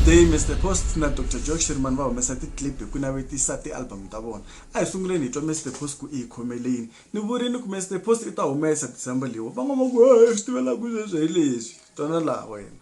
day mr post na dr josh rimani va humesa ticlip hi ku navetisa tialbum ta vona a hi sunguleni hi twa mr post ku i hi khomeleni ni vurini ku mr post i ta humesa december leyiwa van'wana va ku swi tivelaku sweswo hi leswi twana laha wena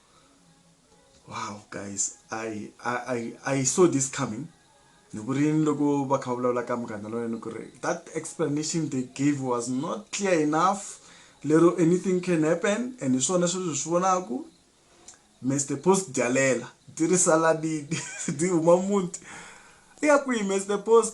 wow guys i i i, I saw this coming ni ku ri ni loko va kha va vulavula ka munghana loyo ni ku ri that explanation they gave was not clear enough lero anything can happen and hi swona sweswi swi vonaku mr post dyalela ti ri saladini ti huma muti i ya kwihi mr post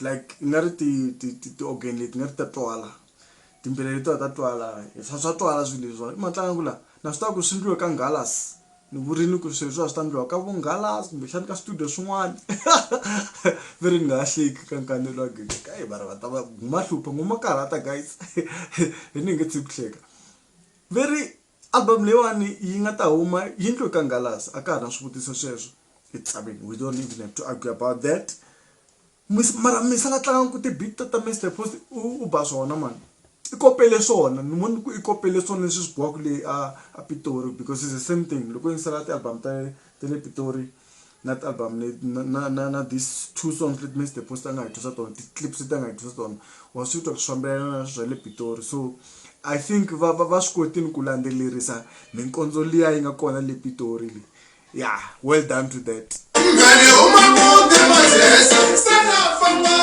like i nga ri ti ti ti ti organ leti nga ri ta twala timbele leti va ta twala swa swa twala swilo leswiwa i matlanga ku la na swi tiva ku swi endliwe ka ngalas ni vurini ku swilo swa swi ta endliwa ka vonghalas kumbexani ka studio swin'wana ve ri ni nga ha hleki ka nkanelo wa gezi ka yi va ri va ta va guma hlupha ngoma karhata guys hi ni nge tshiki ku hleka ve ri Album leyiwani yi nga ta huma yindlu eka Ngalasi a ka ha na swivutiso sweswo it's I mean we don't even have to argue about that mara misa la tlangaka ku ti-beat ta ta Mister Post u ba swona mani i kopele swona ni vona ku i kopele swona leswi swi biwaka le a a Pitori because it's the same thing loko yingisela ti-album ta ta le Pitori na ti-album leti na na na na this two songs leti Mister Post a nga hi twisa tona ti-clips leti a nga hi twisa tona wa swi twa ku swi fambelana na swa le Pitori so I think va va va swi kotile ku landzelerisa minkondzo liya yi nga kona le Pitori le ya well done to that mngane uma kude mazesa sanafa ngo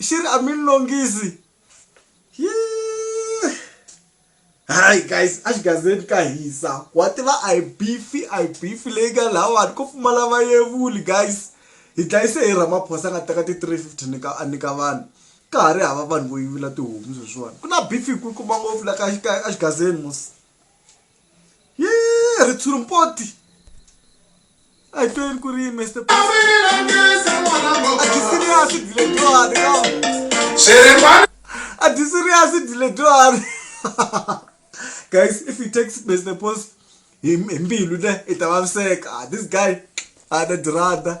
xi ri a mi longisi hayi guys a xigazeni ka hisa wa tiva a hi bifi a hi bifi leyi nga lahawani ko pfumala vayevuli guys hi dlayise hi ramaphosa a nga teka ti-three fifty ni ka a nyika vanhu ka ha ri hava vanhu vo yivula tihomu sweswiwani ku na bifi yi kulukumba ngopfu la ka ka exigazeni mos. yee ritshuri mpoti a hi tweni ku ri mr adisiriyasi diledwani ka adisiriyasi diledwani guys if you take mr post hi mbilu le i ta vaviseka ah, this guy ana dirada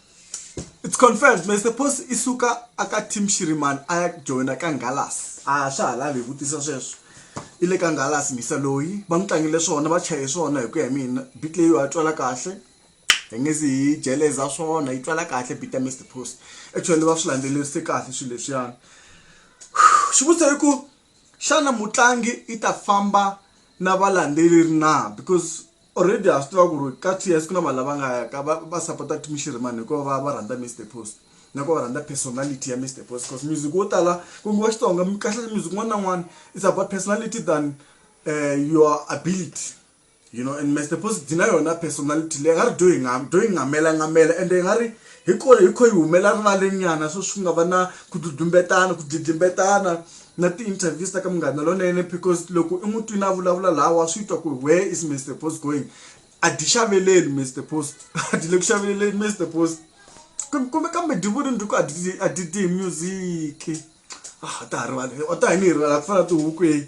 it's confirmed mase post i suka aka team shiriman a ya joyina ka ngalas a swa ha lavi hi vutisa sweswo i le ka ngalas misa loyi va n'wi tlangile swona va chaye swona hi ku ya hi mina bit leyi wa twala kahle hi nge zi hi jeleza swona yi twala kahle bit ya mr post actually va swi landzelerise kahle swilo leswiyani xivutiso i ku xana mutlangi i ta famba na valandzeleri na because already ha swi tiva ku ri ka ts ku na vanhu lava nga ka va, va supporta kut mishirhimani hikuva va va rhandza mr post nako va rhandza personality ya mr post because music wo tala ku ngiwa xitsonga kahle music n'wana na n'wana is about personality than uh, your ability you know and mr post dzi na yona personality leyi nga ri dyo hi nga dyo hi ngamela ngamela ende hi nga ri hi kona hi kho yi humela rivalenyana so swi nga va na ku dudlumbetana ku dlidlimbetana na ti interviews ta ka munghana lonene because loko i n'wi twini a vulavula laha wa swi twa ku where is mr post going a di xaveleli mr post a di le ku xaveleleni mr post kumbe kambe divuni ndi ku a di a di di music ah ta rivala o ta hi ni rivala ku fana tihuku eyi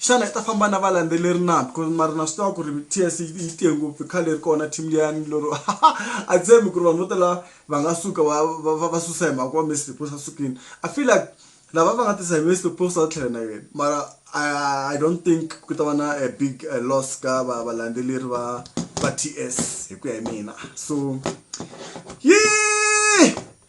xana i ta famba na valandzeleri na because mara na swi tiva ku ri ts yi tiye ngopfu i khale ri kona team liyani lero a tshembi ku ri vanhu vo tala va nga suka va va va susa hi mhaka ku va messi post a sukile i feel like lava va nga tisa hi messi post a tlhela na yena mara i don't think ku ta va na a big loss ka va valandzeleri va va ts hi ku ya hi mina so yi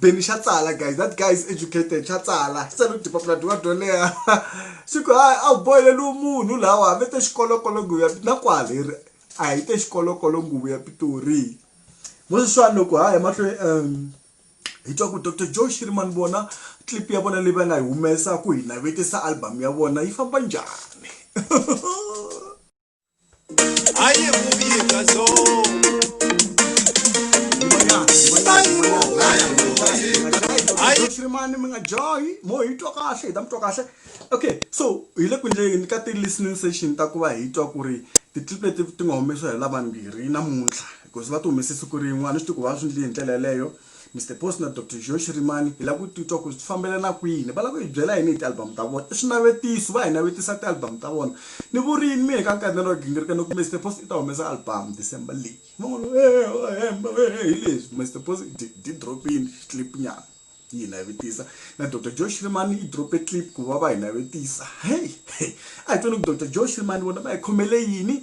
beni xa tsala guys that guy is educated xa tsala xi tsale dipapila dyiwa dyo leha xi ku hayi a wu boheleliwe munhu lawa hambi te xikolokolo nguvu ya na kwaleri a hi te xikolokolo nguvu ya pitori mo sweswiwani loko ha ya mahlweni um hi twa ku dr joe shirman vona clip ya vona leyi va nga yi humesa ku hi navetisa album ya vona yi famba njhani mani mi nga johi mo hi twa kahle hi ta mi twa kahle okay so hi le ku endleni ka ti-listening session ta ku va hi twa ku ri ti-clip leti ti nga humesiwa hi lavambirhi namuntlha because va ti humese siku rin'wana swi ti ku va swi ndli hi ndlela yeleyo Mister Boss na Doctor Joe Shirimani hi la ku titwa ku swi fambelana kwini. Va la ku hi byela yini hi ti-album ta vona? I swinavetiso, va hi navetisa ti-album ta vona. Ni vurini mina ka nkarhi na lowu wa gingirika ni ku Mister Boss i ta humesa album December leyi. Van'wana va ku eeh wa hemba weeh hi leswi. Mister Boss i dye dye drop-ini clip nyana yi hi navetisa. Na Doctor Joe Shirimani yi drop-e clip ku va va hi navetisa. Hey! Hey! A hi tweni ku Doctor Joe Shirimani vona va hi khomele yini?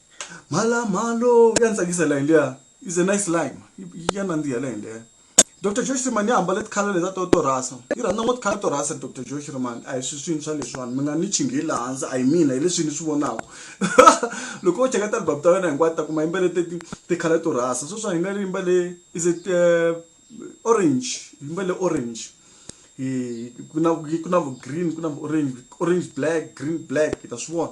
Mhala mhalo ya ni tsakisa line liya is a nice line ya nandziha line liya Dr Josh Rimani ya hambale tikhala leta to to rhasa yi rhandza ngo tikhala to rhasa Dr Josh Rimani a hi swi swintshwa leswiwani mi nga ni chinghi laha hansi a hi mina hi leswi ni swi vonaka loko o cheka ti-album ta wena hinkwato ta kuma yimbele ti tikhala to rhasa sweswi a yimbele yimbele is it eh, orange yimbele orange hi ku na ku na vu green ku na vu orange orange black green black hi ta swi vona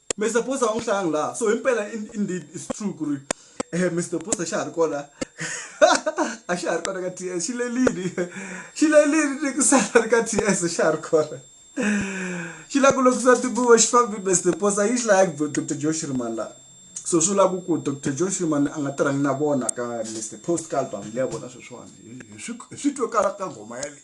Mister Booster va n'wi hlayanga laha so himpela indeed it's true ku ri Mister Booster xa ha ri kona a xa ha ri kona ka T_S xi lerile xi lerile ni ku sala ri ka T_S xa ha ri kona xi lava ku lokisa tibuva xi fambile Mister Booster yi xi laya ku Doctor Joe Shirimani laha so swi lava ku ku Doctor Joe Shirimani a nga tirhangi na vona ka Mister Post ka album leyi ya vona sweswiwani hi swi hi swi twe kala ka nghoma yaleyo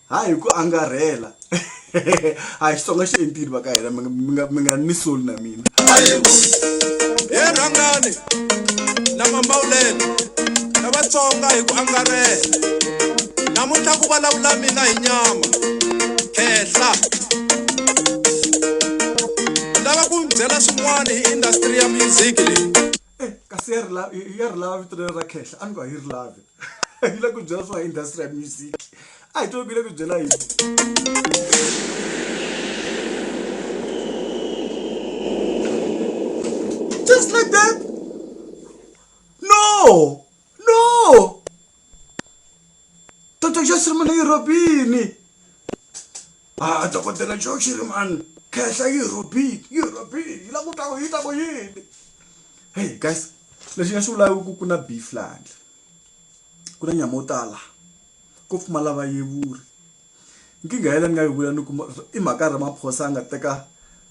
ha hi ku angarhela a hi xitsonga xi entile va ka hina mi nga ni soli na mina he rhangani na mambawulelo na vatsonga hi ku angarhela namuntlha ku vulavula mina hi nyama khehla lava ku byela swin'wana hi industry ya music leyi eh, kasi ya ri lava vito ra khehla a ni ku a yi ri lavi yi le ku byela swa industry ya music a hi tivi ku yi le ku byela yini just like that no no toto just ri munhu yirobini Haa Dokodela Joe Shirimani khehla yi rhobile yi rhobile yi la ku twa ku yi ta ku yini heyi guys lexi nga xi vulaka ku ku na beef laha handle ku na nyama yo tala ko pfumala vayevuri nkingha ya leyi ni nga yi vula ni ku i mhaka ya Ramaphosa a nga teka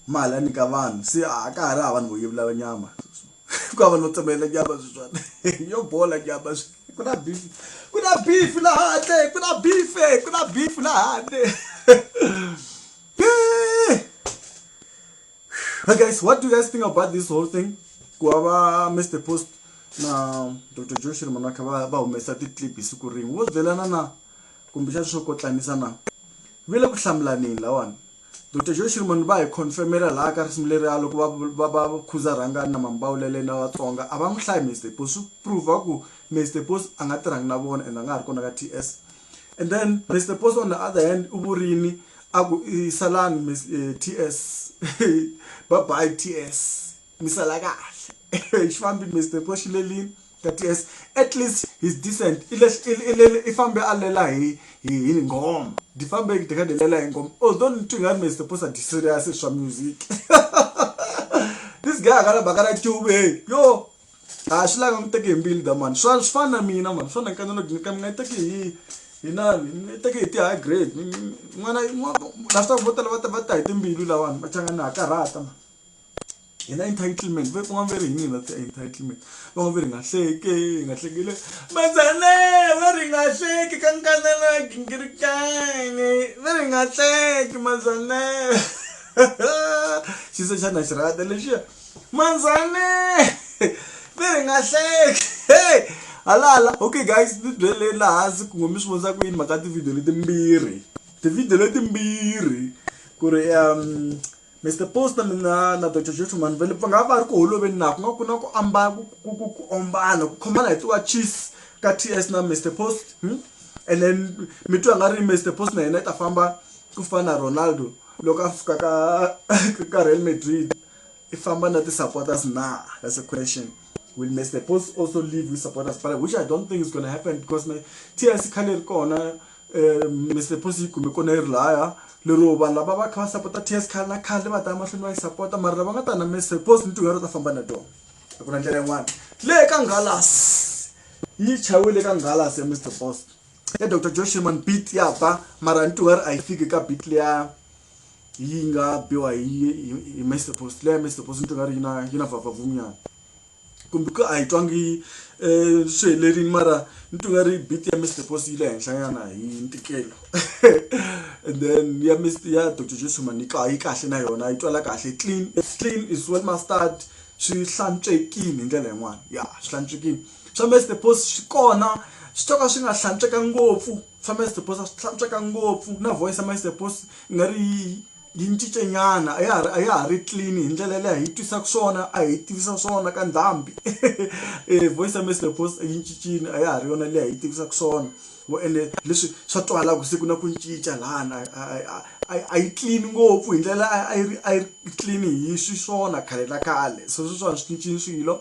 mali a nyika vanhu se a ka ha ri hava vanhu vo yevula nyama. ku hava no tsemelela nyama sweswana yo bola nyama ku na beef ku na beef laha handle ku na beef ku na beef laha handle Hey guys, what do you guys think about this whole thing? Ku hava Mr. Post na Dr. Josh Manaka va va humesa ti-clip hi siku rin'we. Wo byelana na kumbe xa swo kotlanisa na. Vile ku hlamulanini lawani. Doctor Joe Shirimani va hi confirmela laha ka risimu leriya loko va va va khuza Rhangani na Mambawulele na Vatsonga a va n'wi hlayi Mister Boss swi prove ku Mister Boss a nga tirhangi na vona and a nga ha ri kona ka TS and then Mister Boss on the other hand u vurini a ku i salani TS bye bye TS. misala kahle xi fambi Mister ko xi lelini that is at least he's decent i lexi i fambe a lela hi hi nghoma di fambe di kha di lela hi nghoma although ni twi nga ri Mister Posa di serious hi swa music this guy a nga na mhaka na tube yo a swi langa n'wi teke hi mbilu da mani swa swi fana na mina mani swa na nkana loko ni ka mi nga yi teki hi hi nani ni teke hi ti-high grade n'wana na swi tiva vo tala va ta va ta hi timbilu lawani va changa ni ha karhata mani hi na entitlement ve kun'wana ve ri hi mina ti entitlement van'wana ve ri nga hleke hi nga hlekile mazane ve ri nga hleki ka nkanela gingirikane ve ri nga hleki mazane xiso xa na xi rata lexiya manzane ve ri nga hleki hey halala okay guys ni byeleni laha hansi ku ngo mi swi vonisa ku yini mhaka tivhidiyo letimbirhi tivhidiyo letimbirhi ku ri um Mister Poster mina na Doctor Jesu Manvele va nga va ri ku holoveni na ku nga ku na ku ambala ku ku ku ku ombana ku khomana hi tiwa cheese ka TS na Mister Post hmm? and then mi twa nga ri Mister Post na yena ta famba ku fana na Ronaldo loko a fika ka ka Real Madrid i famba na ti supporters na that's a question will Mister Post also leave with supporters but which I don't think is going to happen because my TS khale ri kona um mr posi yi kume kona yi ri laya lero vanhu lava va kha va sapota ts khale na khale va ta emahlweni va yi sapota mara lava nga ta na mr posi ni tin'wana va ta famba na tona a ku na ndlela yin'wana le ka ngalas yi chayiwile ka ngalas ya mr posi ya dr joe sherman beat ya ba mara ni tin'wana a yi fiki ka beat leya yi nga biwa hi mr posi leya mr posi ni tin'wana yi na yi na vavavumnyana kumbe ku a yi twangi um swi helerile mara ni twi nga ri beat ya Mister Boss yi le henhla nyana hi ntikelo and then ya Mister ya Doctor Jesu mhani yi yi kahle na yona yi twala kahle clean clean is well mastered swi hlantswekini hi ndlela yin'wani ya swi hlantswekini swa Mister Boss swi kona swi to ka swi nga hlantsweka ngopfu swa Mister Boss a swi hlantsweka ngopfu na voice ya Mister Boss i nga ri yi. yi cince nyana a ya ha ri a ya ha ri clean hi ndlela leyi a hi twisaka swona a hi tivisa swona ka ndhambi voice ya Mister Post yi cincile a ya ha ri yona leyi a yi tivisaka swona wo ene leswi swa twala ku se ku na ku cinca lana a yi clean ngopfu hi ndlela a yi ri a yi clean hi xiswona khale na khale so sweswiwani swi cincile swilo.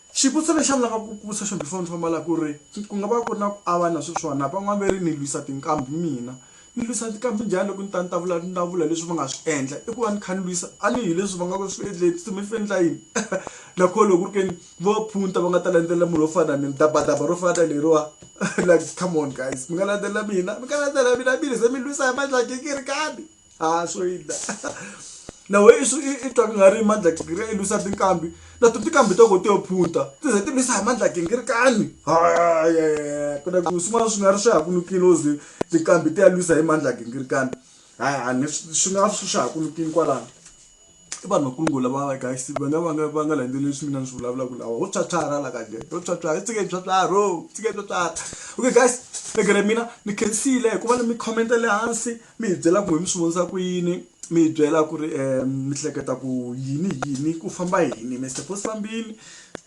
Xivutiso lexi a ni lava ku ku vutisa xona before ni famba la ku ri, ku nga va ku ri na ku avana sweswiwana van'wana va ri ni lwisa tinkambi mina ni lwisa tinkambi njhani loko ni ta ni ta vula ni ta vula leswi va nga swi endla i ku va ni kha ni lwisa a ni hi leswi va nga ku swi endleni se mi swi endla yini na koho loko ku ri ke ni vo va phunta va nga ta landzelela munhu wo fana na mina dabadaba ro fana na leriwa like come on guys mi nga landzelela mina mi nga landzelela mina mi ri ze mi lwisa hi mandla ya gingirikani. a swo yida na we i swi i twa ku nga ri mandla gingiri i lwisa tinkambi na to tinkambi to ko ti yo phunta ti ze ti lwisa hi mandla gingiri kani ku na ku swin'wana swi nga ri swi ha ku nukile o ze tinkambi ti ya lwisa hi mandla gingiri kani hayi a ni swi nga swi swi ha ku nukile kwalano I vanhu va kulungulu lava guys va nga va nga va nga landzeleli leswi mina ni swi vulavulaka lawa ho pyapyara la ka njhe ho pyapyara hi tshike hi pyapyara ho tshike hi pyapyara okay guys ni gere mina ni khensile hikuva ni mi comment le hansi mi hi byela ku hi mi swi vonisa ku yini mi hi byela ku ri mi hleketa ku yini yini ku famba yini mi se ku fambini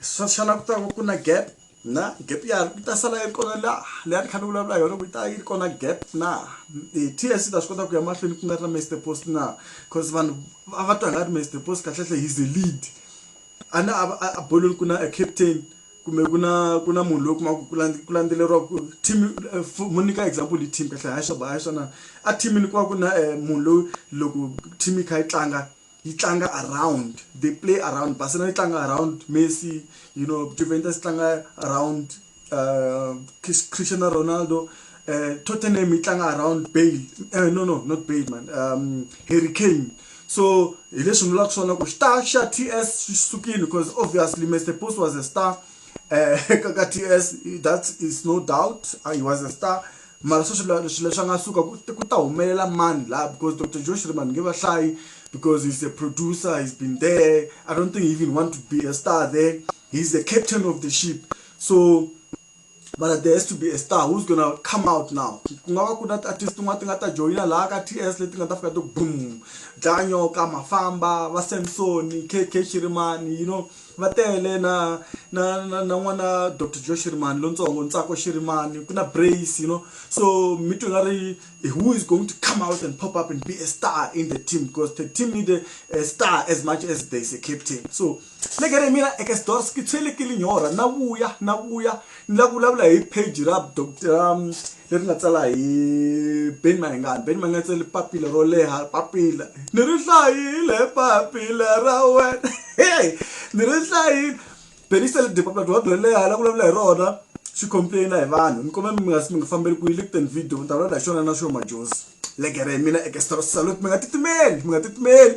swa xana ku ta va ku na gap. na gap ya yi ta sala yi ri kona la leyi a ni kha ni vulavula hi yona ku yi ta yi ri kona gap na T_S_C yi ta swi kota ku ya mahlweni ku nga ri na Mister Post na coz vanhu a va twa hi nga ri Mister Post kahlekahle he's a lead a na a a bolweni ku na a captain kumbe ku na ku na munhu loyi u kuma ku ku ku landzeleriwa ku team mu nyika example hi team kahlekahle hayi swa hayi swa na a team-ini ku va ku na munhu loyi loko team yi kha yi tlanga. yi tlanga around they play around barcelona yi tlanga around messi you know juventus yi tlanga around uh, cristiano ronaldo uh, tottenham yi tlanga around bale uh, no no not bale man um, harry kane so hi leswi ni vulaka swona ku star xa t s xi sukile because obviously mr post was a star uh, ka t s that is no doubt uh, he was a star mara se swilo swilo leswi a nga suka ku ku ta humelela mani laha because dr joe shirima ni nge va hlayi because he's a producer he's been there i don't think he even want to be a star there he's a captain of the ship so mara there has to be a star who's gonna come out now ku nga va ku na ti-artist tin'wana ti nga ta joyina laha ka t s leti nga ta fika ti boom dlaya nyoka mafamba va samsoni kk shirimani you know Va tele na na na na n'wana Doctor Joe Shirimani lontsongo Ntsako Shirimani ku na Brace you know so mi twe nga ri who is going to come out and pop up and be a star in the team because the team need a, a star as much as there is a captain so legere mina ekesdors ke tshwelekile nyora na vuya na vuya Ni lava ku vulavula hi page ra leri nga tsala hi Benny Mayengani. Benny Mayengani u tsale papila ro leha papila ni ri hlayile papila ra wena hey ni ri hlayile Benny u tsale papila rin'wana ro leha la vulavula hi rona swi complain hi vanhu ni kombela mi nga mi nga fambeli kwihi le ku teni video ni ta vulavula hi xona na xona majozi legere hi mina Ekestros Salute mi nga titimeli mi nga titimeli.